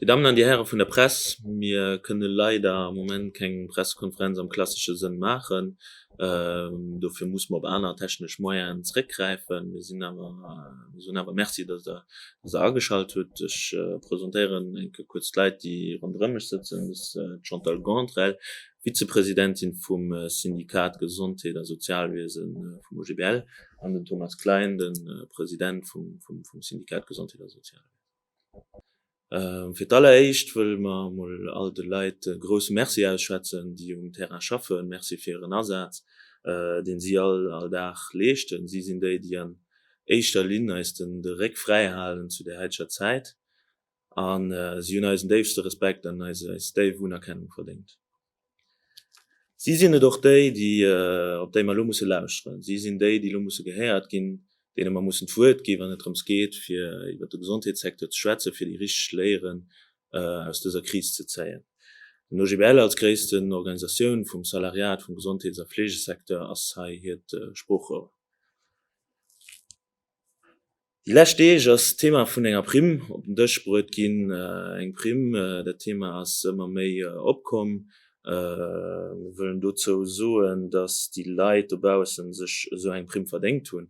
Dir Dammen an Dir Häre vun der Press, mir kënne leider am Moment keng Pressekonferenz am klassesche Sënn maachen, Dofir muss mer op aner technesch Moyenen zréckgräifen. Mir sinn awer, mir soen awer Merci, dass Der, dass Der ageschalt hutt. Ech presentéieren eng Kéier kuerz d'Leit, déi ronderëm mech sëtzen. Dat ass d'Chantal Gauntrell, Vizepresidentin vum Syndikat Gesondheet a Sozialwiese vum OGBL, an den Thomas Klein, de President vum Syndikat Gesondheet a Sozialwiese. Fir d'alleréischt wëlle mer emol all de Leit e grousse Merci ausschwätzen, déi um Terrain schaffen. Merci fir hiren Asaz, dee si all all Dag leeschten. Si sinn déi, déi an éischter Linn eis den de Réck fräi halen zu där haiteger Zäit. A si hunn eisen déifste Respekt an eis eis déif Unerkennung verdéngt. Si sinn et och déi, op déi mer elo musse lauschteren. Si sinn déi, déi elo musse gehéiert ginn, deene mer mussen d'Wuert ginn, wann et drëms geet, fir iwwert de Gesondheetssecteur ze schwätzen, fir déi richteg Léieren aus dëser Kris ze zéien. Den OGBL als gréissten Organisatioun vum Salariat vum Gesondheets a Fleegesecteur ass hei hiert Sproochrohr. Déi lescht Deeg ass d'Thema vun enger Primm op den Dësch bruet ginn. Eng Primm, dat Thema ass ëmmer méi opkomm. Mir wëllen dozou soen, datt déi Leit dobaussen sech esou eng Primm verdéngt hunn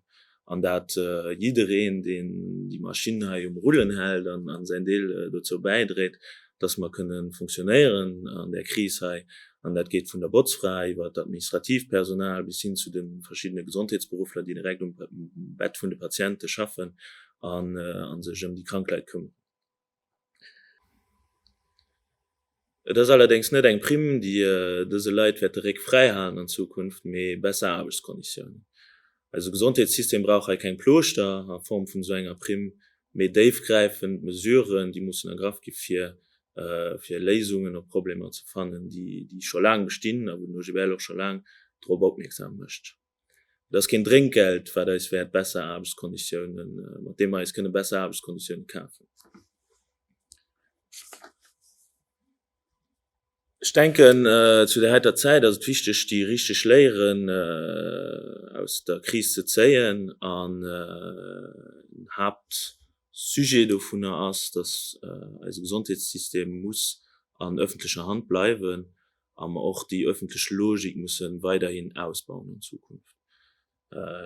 an dat jiddereen, deen déi Maschinn hei um Rullen hält an säin Deel dozou bäidréit, dass mer kënne funktionéieren an där Kris hei. An dat geet vun der Botzfra iwwert administratiivt Personal bis hin zu de verschiddene Gesondheetsberuffler, déi direkt um Bett vun de Patiente schaffen a sech ëm déi krank Leit këmmeren. Et ass allerdéngs net eng Primm, déi dëse Leit wäerte Réck fräihalen an Zukunft, mee besser Aarbechtskonditiounen. Eise Gesondheetssystem brauch hei keng Plooschter a Form vun esou enger Primm, mee déifgräifend Mesuren, déi mussen ergraff gi fir Léisungen op Problemer ze fannen, déi scho laang bestinn a wou den OGBL och scho laang drop opmierksam mécht. Et ass keen Drénkgeld, wat eis wäert besser Aarbechtskonditiounen, mat deem mer eis kënne besser Aarbechtskonditiounen kafen. Ech denken, zu där heiter Zäit ass et wichteg, déi richteg Léieren aus der Kris ze zéien. An den Haaptsujet dovunner ass, dass eise Gesondheetssystem muss an öffentlecher Hand bleiwen a mer och déi öffentlech Logik musse weiderhin ausbauen an Zukunft.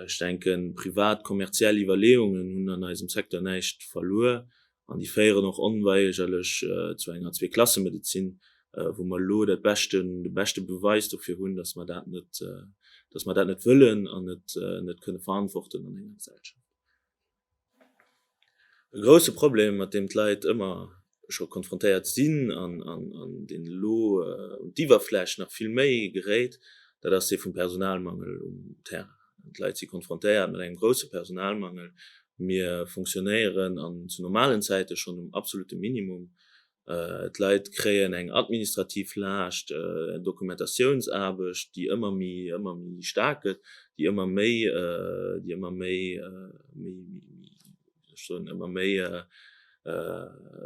Ech denken, privat kommerziell Iwwerleeungen hunn an eisem Secteur näischt verluer an déi féieren och onweigerlech zu enger Zweeklassemedezin, wou mer elo dat beschten, de beschte Beweis dofir hunn, dass mer dat net, dass mer dat net wëllen an net, net kënne verantworten an enger Gesellschaft. E grousse Problem, mat deem d'Leit ëmmer scho konfrontéiert sinn an deen elo un d'Iwwerfläch nach vill méi geréit, dat ass dee vum Personalmangel um Terrain. D'Leit si konfrontéiert mat engem grousse Personalmangel. Mir funktionéieren an zu normalen Zäite schonn um absolutte Minimum. D'Leit kréien eng administrativ Laascht, eng Dokumentatiounsaarbecht, déi ëmmer méi, ëmmer méi staark gëtt, déi ëmmer méi, déi ëmmer méi, méi, wéi soll ech soen, ëmmer méi,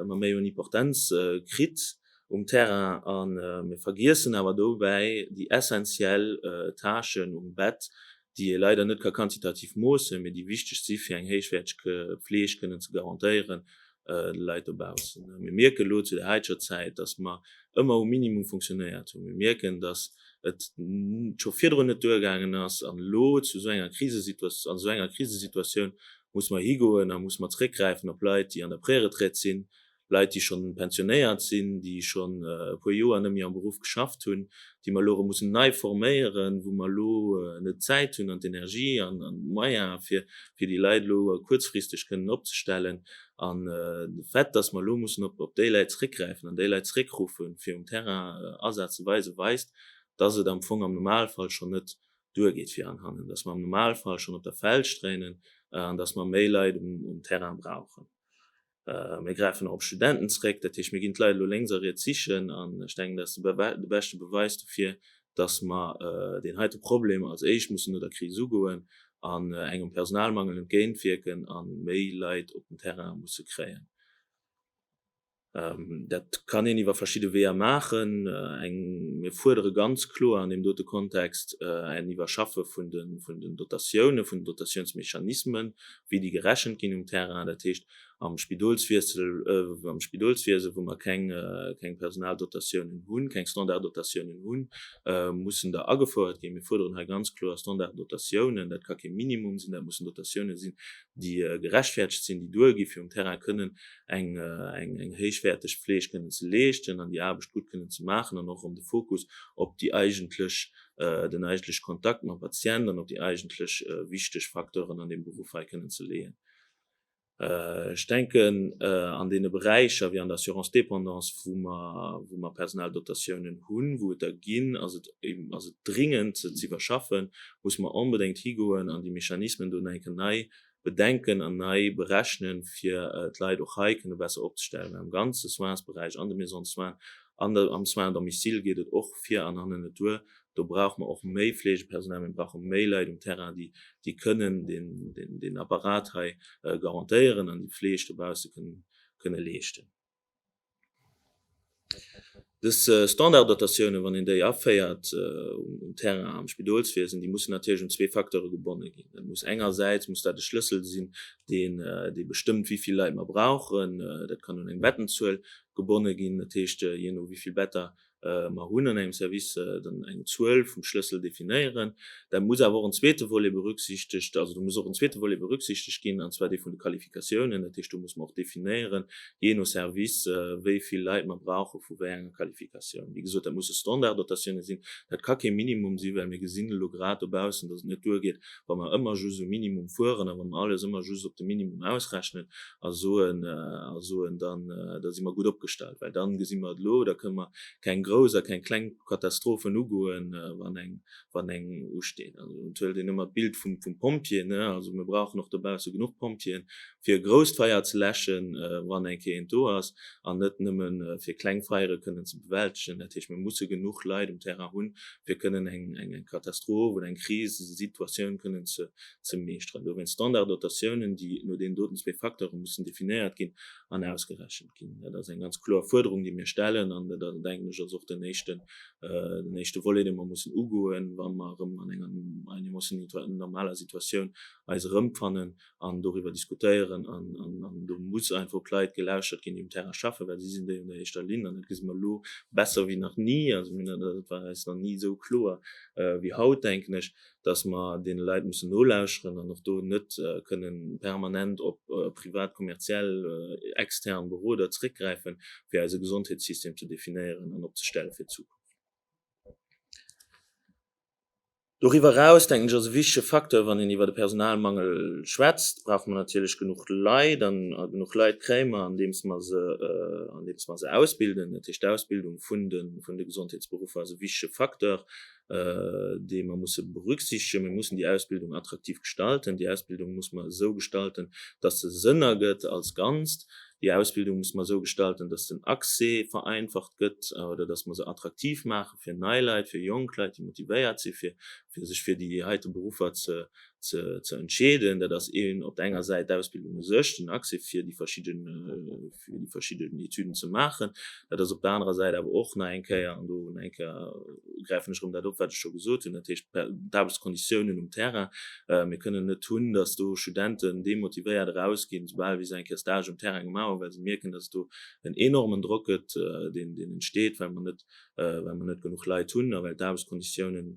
ëmmer méi un Importenz kritt um Terrain. A mir vergiessen awer dobäi déi essentiell Tâchen um Bett, déi ee leider net ka quantitativ moossen, mee déi wichteg si fir eng héichwäerteg Fleeg kënnen ze garantéieren de Leit dobaussen. Mir mierken elo zu der haiteger Zäit, datt mer ëmmer um Minimum funktionéiert hunn. Mir mierken, datt et scho virdrun net duergaangen ass an elo zu esou enger Krisesituatioun, an esou enger Krisesituatioun muss mer higoen a muss mer zréckgräifen op Leit, déi an der Préretraite sinn Leit, déi schonn pensionéiert sinn, déi schonn e puer Joer net méi am Beruff geschafft hunn, déi mer elo erëm mussen nei forméieren, wou mer elo net d'Zäit hunn an d'Energie an d'Moyen, fir déi Leit elo kuerzfristeg kënnen opzestellen. An de Fait, dass mer elo mussen op déi Leit zréckgräifen an déi Leit zréckrufe fir um Terrain Asaz ze weisen, weist, dass et am Fong am Normalfall schonn net duergeet vir an hannen, dass mer am Normalfall schonn op der Feld stréinen an dass mer méi Leit um Terrain brauchen. Mir gräifen och op Studenten zeréck. Dat heescht, mir ginn d'Leit elo lénks a riets sichen. An ech denken, dat ass de beschte Beweis dofir, dass mer deen heite Problem als éischt mussen no der Kris ugoen an engem Personalmangel entgéintwierken a méi Leit op den Terrain musse kréien. Dat kann een iwwer verschidde Weeër maachen. Mir fuerdere ganz kloer an deem dote Kontext en Iwwerschaffe vun den Dotatioune, vun den Dotatiounsmechanismen, wéi déi gerechent ginn um Terrain, dat heescht am Spidolswiessel, am Spidolswiese wou mer keng keng Personaldotatiounen hunn, keng Standarddotatiounen hunn, mussen der agefouert ginn. Mir fuerderen hei ganz kloer Standarddotatiounen. Dat ka kee Minimum sinn, dat mussen Dotatiounen sinn, déi gerechtfertegt sinn, déi duergi fir um Terrain kënnen eng eng héichwäerteg Fleeg kënnen ze leeschten an déi Aarbecht gutt kënnen ze maachen an och ëm de Fokus op déi eigentlech den eigentlech Kontakt mam Patient an op déi eigentlech wichteg Facteuren an deem Beruff hei kënnen ze leeën. Ech denken an deene Beräicher wéi an der Assurance dépendance, wou mer, wou mer Personaldotatiounen hunn, wou et der ginn, ass et eben, ass et dringend, se z'iwwerschaffen, muss mer onbedéngt higoen an déi Mechanismen do no enken nei bedenken an nei berechnen, fir d'Leit och hei kënne besser opzestellen am ganze Soinsberäich, an de Maisons de soins an am Soins à domicile geet et och vir an hannen net duer. Do brauche mer och méi Fleegepersonal, mir brauche méi Leit um Terrain, déi déi kënnen deen Apparat hei garantéieren an déi Fleeg dobausse kënne leeschten. Dës Standarddotatioune, wann een déi aféiert um Terrain am Spidolswiesen, déi mussen natierlech un zwee Facteure gebonne ginn. Dat muss engersäits muss dat e Schlëssel sinn, deen dee bestëmmt, wéi vill Leit mer brauchen. Dat kann un eng Bettenzuel gebonne ginn, dat heescht, jee no wéi vill Better Mer hunn an engem Service dann eng Zuel vum Schlëssel definéieren. Da muss awer och en zweete Volet berücksichtegt, also do muss och en zweete Volet berücksichtegt ginn, an zwar dee vun de Qualifikatiounen. Dat heescht, do muss mer och definéieren, jee no Service, wéi vill Leit mer brauche vu wéi enger Qualifikatioun. Wéi gesot, dat musse Standarddotatioune sinn. Dat ka kee Minimum sinn, well mir gesinn elo grad dobaussen, dass et net duergeet, wa mer ëmmer just um Minimum fueren a wa mer alles ëmmer just op de Minimum ausrechnen, a soen, a soen dann, da si mer gutt opgestallt, well dann gesi mer et elo, da kënnen mer keng grouss a keng kleng Katastrophen ugoen, wann eng, wann eng usteet. Also dann huelt een ëmmer d'Bild vum, vum Pompjee, ne. Also mir brauchen och dobausse genuch Pompjeeën, fir e grousst Feier ze läschen, wann eng Kéier eent do ass, an net nëmme fir kleng Feiere kënnen ze bewältegen. Dat heescht, mir musse genuch Leit um Terrain hunn, fir kënnen eng, eng Katastroph oder eng Krisesituatioun kënnen ze, ze meeschteren. Dowéinst Standarddotatiounen, déi no deenen doten zwee Facteure mussen definéiert ginn an ausgerechent ginn. Dat ass eng ganz kloer Fuerderung, déi mir stellen, an dat ass, denken ech, ass och den éischten, den éischte Volet, dee mer mussen ugoen, wa mer erëm an enger einigermoossen normaler Situatioun eis erëmfannen an doriwwer diskutéieren. An do muss einfach op d'Leit gelauschert ginn, déi um Terrain schaffen, well si sinn déi un der éischter Linn. An dat gesi mer elo besser wéi nach ni. Also, mir, dat war eis nach ni esou kloer wéi haut, denken ech. dass mer deene Leit mussen nolauscheren an och do net kënnen permanent op privat, kommerziell, extern Beroder zréckgräifen, fir eise Gesondheetssystem ze definéieren an opzestelle fir d'Zukunft. Doriwwer eraus, denken ech, ass e wichtege Facteur, wann een iwwert e Personalmangel schwätzt, brauche mer natierlech genuch Leit an genuch Leit kréie mer, andeems mer se, andeems mer se ausbilden. Dat heescht, d'Ausbildung vun de Gesondheetsberuffer ass e wichtege Facteur. déi mer musse berücksichtegen. Mir mussen déi Ausbildung attraktiv gestalten. Déi Ausbildung muss mer esou gestalten, dass se Sënn ergëtt als Ganzt. Déi Ausbildung muss mer esou gestalten, dass den Accès vereinfacht gëtt oder dass mer se attraktiv maache fir nei Leit, fir jonk Leit, déi motivéiert si fir sech fir déi heite Beruffer ze entscheeden. Dat ass op der enger Säit d'Ausbildung u sech, den Accès fir déi verschidde. fir déi verschidden Etüden ze maachen. Dat ass op der anerer Säit awer och nach eng Kéier, an do nach eng Kéier gräifen ech erëm dat op, wat ech scho gesot hunn, dat heescht d'Aarbechtskonditiounen um Terrain. Mir kënnen net hunn, datt do Studenten demotivéiert erausginn, esoubal wéi se eng Kéier Stage um Terrain gemaach hunn, well se mierken, datt et do en enormen Drock gëtt, deen entsteet, well mer net, well mer net genuch Leit hunn a well d'Aarbechtskonditiounen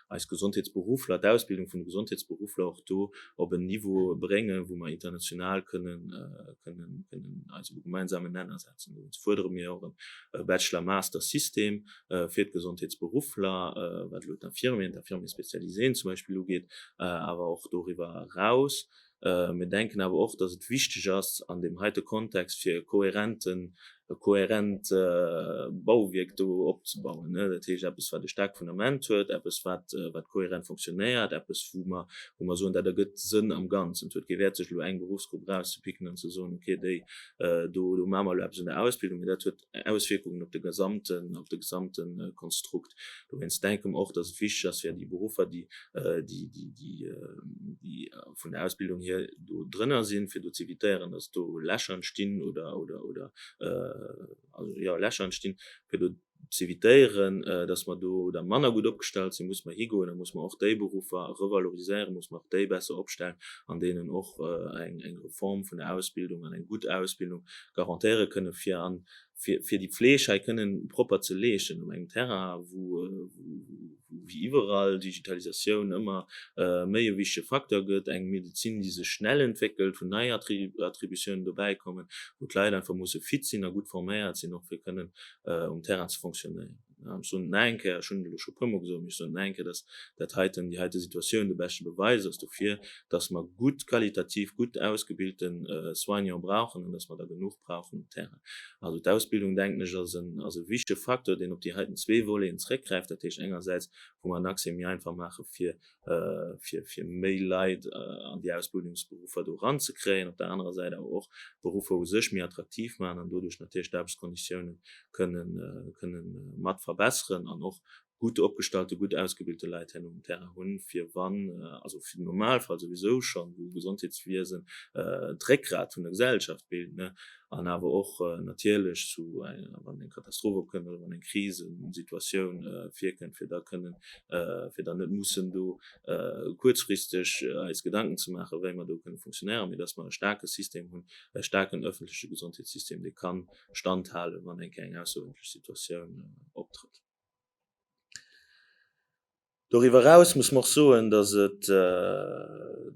eis Gesondheetsberuffler, d'Ausbildung vun de Gesondheetsberuffler och do op en Niveau bréngen, wou mer international kënnen eis op e gemeinsamen Nenner setzen. Dowéinst fuerdere mir och e Bachelor-Master-System fir d'Gesondheetsberuffler, wat elo d'Infirmieren, d'Infirmiers spécialisés zum Beispill ugeet, awer och doriwwer eraus. Mir denken awer och, dass et wichteg ass an deem heite Kontext fir e kohärenten, e kohärent Bauwierk do opzebauen, dat heescht eppes wat e staarkt Fundament huet, eppes wat, wat kohärent fonctionnéiert, eppes wou mer, wou mer soen, dat ergëtt Sënn am Ganzen. Et huet kee Wäert sech elo eng Berufsgrupp erauszepicken an ze soen, okay déi do, do maache mer elo eppes un der Ausbildung, mee dat huet, Auswierkungen op de gesamten, op de gesamte Konstrukt. Dowéinst denke mer och, dass et wichtig ass fir déi Beruffer, déi, déi, déi, déi, déi vun der Ausbildung hier do drënner sinn, fir do z'évitéieren, dass do Lächer entstinn oder, oder, oder, also, jo, Lächer entstinn, fir do z'évitéieren, dass mer do da manner gutt opgestallt sinn, muss mer higoen a muss mer och déi Beruffer revaloriséieren, muss mer och déi besser opstellen an deenen och eng, eng Reform vun der Ausbildung an eng gutt Ausbildung garantéiere kënnen, fir an fir déi Fleeg hei kënnen propper ze leeschten op engem Terrain, wou wéi iwwerall Digitalisatioun ëmmer méi e wichtege Facteur gëtt, eng Medezin, déi sech schnell entwéckelt, wou nei Attributiounen dobäi kommen, wou d'Leit einfach musse fit sinn a gutt forméiert sinn, och fir kënnen um Terrain ze fonctionnéieren. Ech soen et nach eng Kéier, ech hunn et elo scho e puermol gesot, mee ech soen et nach eng Kéier, dass dat heiten, déi heite Situatioun de beschte Beweis ass dofir, dass mer gutt, qualitativ gutt ausgebilte Soignant brauchen an dass mer der genuch brauchen um Terrain. Also d'Ausbildung, denken ech, ass e wichtege Facteur, deen op déi heiten zwee Voleten zeréckgräift, dat heescht engersäits, wou mer en Accès méi einfach maache fir fir méi Leit an déi Ausbildungsberuffer do eran ze kréien, op der anerer Säit awer och d'Beruffer u sech méi attraktiv maachen an doduerch natierlech d'Aarbechtskonditiounen kënne mat verbesseren an och gutt opgestallte, gutt ausgebilte Leit héi um Terrain hunn, fir wann, also fir den Normalfall souwisou schonn, wou d'Gesondheetswiesen d'Réckgrat vun der Gesellschaft bilt, an awer och natierlech zu, wann eng Katastroph opkënnt oder wann eng Krisesituatioun virkënnt, fir da kënnen, fir dann net mussen do kuerzfristeg eis Gedanken ze maachen, wéi mer do kënne funktionéieren, mee dass mer e staarke System hunn, e staarken öffentleche Gesondheetssystem, dee ka standhalen, wann eng kéier eng aussergewéinlech Situatioun optrëtt. Doriwwer eraus muss mer och soen, dass et,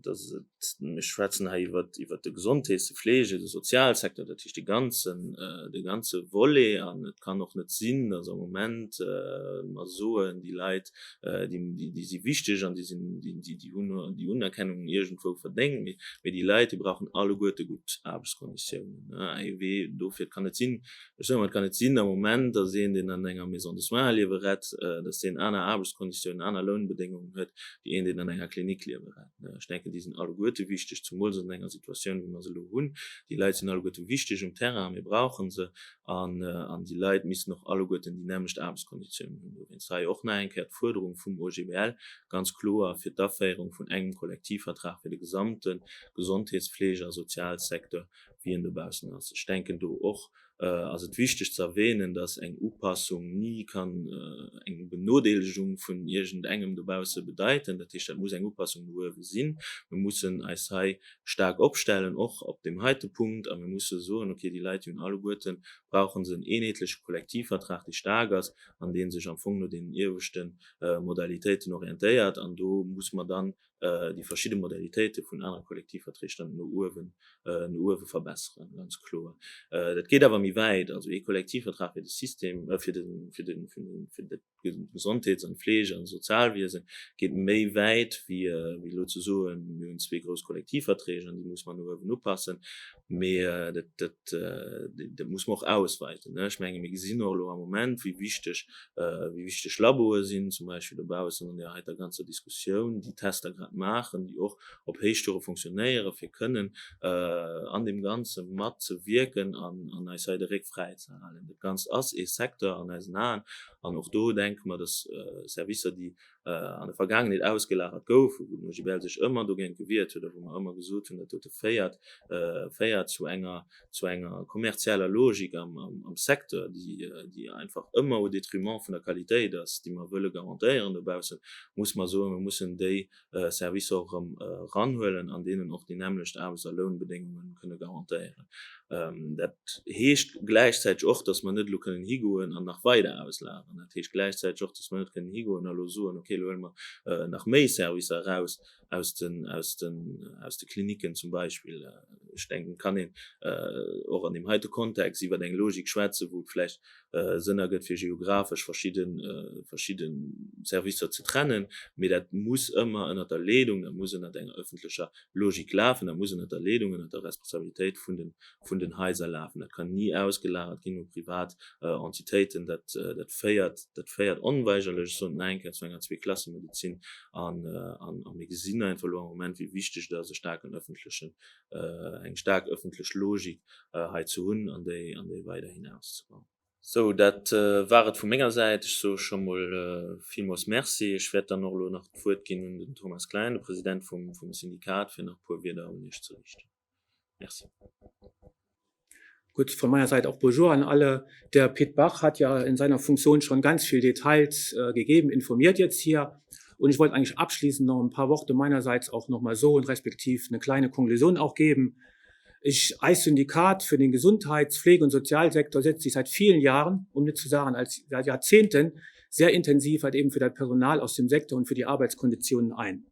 dass et, mir schwätzen hei iwwert, iwwert de Gesondheets-, de Fleege-, de Sozialsektor, dat heescht dee ganzen, dee ganze Volet an et kann och net sinn, dass am Moment mer soen, déi Leit, déi, déi si wichteg an déi sinn, déi, déi hunn déi Unerkennung iergendwou verdéngt, mee, mee déi Leit, déi brauchen alleguerte gutt Aarbechtskonditiounen. AEW, dofir, et kann net sinn, Ech soen, et kann net sinn am Moment, datt een, deen an enger Maison de soins liewe rett, datt deen aner Aarbechtskonditiounen, aner Lounbedéngungen huet wéi een, deen an enger Klinik liewe rett. Ech denken, déi sinn alleguerte wichteg, zumools an enger Situatioun, wéi mer se elo hunn. Déi Leit sinn alleguerte wichteg um Terrain, mir brauche se. An déi Leit missten och alleguerten déi nämmlecht Aarbechtskonditiounen hunn. Dowéinst hei och nach eng Kéier d'Fuerderung vum OGBL ganz kloer fir d'Aféierung vun engem Kollektivvertrag fir de gesamte Gesondheetspflege a Sozialsecteur, wien dobaussen ass. Ech denken do och ass et wichteg ze erwähnen, dass eng Upassung ni kann eng Benodeelegung vun iergend engem dobausse bedeiten. Dat heescht, dat muss eng Upassung no uewe sinn. Mir mussen eis hei staark opstellen, och op deem heite Punkt, a mir musse soen, okay, déi Leit, déi hunn alleguerten, brauche se en eenheetleche Kollektivvertrag, dee staark ass an dee sech am Fong no deenen ieweschte Modalitéiten orientéiert. An do muss mer dann déi verschidde Modalitéite vun anere Kollektivverträg dann no uewen, no uewe verbesseren, ganz kloer. Dat geet awer méi wäit, also ee Kollektivvertrag fir de System, fir de, fir de, fir de Gesondheets an Fleege an Sozialwiese geet méi wäit wéi elo ze soen, mir hunn zwee grouss Kollektivverträg an déi muss mer no uewen upassen. Mee dat muss mer och ausweiten. Ech menge mir gesinn och elo am Moment, wéi wichteg Laboe sinn, zum Beispill dobaussen an där heiter ganzer Diskussioun, déi Tester grad maachen, déi och op Héichtoure fonctionnéieren, fir kënnen an deem Ganze mat ze wierken an eis hei de Réck fräi ze halen. Dat Ganzt ass ee Secteur an eisen Aen an och do denke mer, dass Servicer, déi an der Vergaangenheet ausgelagert gouf, wou den OGBL sech ëmmer dogéint gewiert huet a wou mer ëmmer gesot hunn, dat dote féiert féiert zu enger zu enger kommerzieller Logik am am Secteur, déi déi einfach ëmmer au détriment vun der Qualitéit ass, déi mer wëlle garantéieren dobaussen, muss mer soen, mer mussen déi Servicer och erëm eranhuelen an deenen och déi nämmlecht Aarbechts a Lounbedéngungen kënne garantéieren. Dat heescht gläichzäiteg och, dass mer net elo kënnen higoen an nach weider auslageren. Dat heescht gläichzäiteg och, dass mer net kënnen higoen a elo soen, okay, elo huele mer nach méi Servicer eraus aus de Klinicken zum Beispill. Ech denken, et kann een och an deem heite Kontext iwwert eng Logik schwätzen, wou et vläicht Sënner gëtt, fir geographesch verschidde Servicer ze trennen, mee dat muss ëmmer ënnert der Leedung, dat muss ënnert enger ëffentlecher Logik lafen, dat muss ënnert der Leedung, ënnert der Responsabilitéit vun den Haiser lafen. Dat kann ni ausgelagert ginn u privat Entitéiten. Dat féiert onweigerlech, ech soen et nach eng Kéier, zu enger Zweeklassemedezin. A mir gesinn einfach elo am Moment, wéi wichteg et ass, e staarken ëffentlechen eng staark ëffentlech Logik hei ze hunn an déi weiderhin auszebauen. Sou, dat war et vu menger Säit. Ech soe scho mol villmools Merci. Ech wäert dann och elo nach d'Wuert ginn un den Thomas Klein, de President vum Syndikat, fir nach e puer Wierder un Iech ze riichten. Merci. Gudd, von meiner Seite auch Bonjour an alle. Der Pit Bach hat ja in seiner Funktion schon ganz viel Details gegeben, informiert jetzt hier. Und ich wollt eigentlich abschließend noch ein paar Worte meinerseits auch noch mal soen, respektiv ne kleine Konklusion auch geben. Ich, eis Syndikat für den Gesundheits-, Pflege und Sozialsektor setzt sich seit vielen Jahren, um net zu sagen als seit Jahrzehnten, sehr intensiv halt eben für das Personal aus dem Sektor und für die Arbeitskonditionen ein.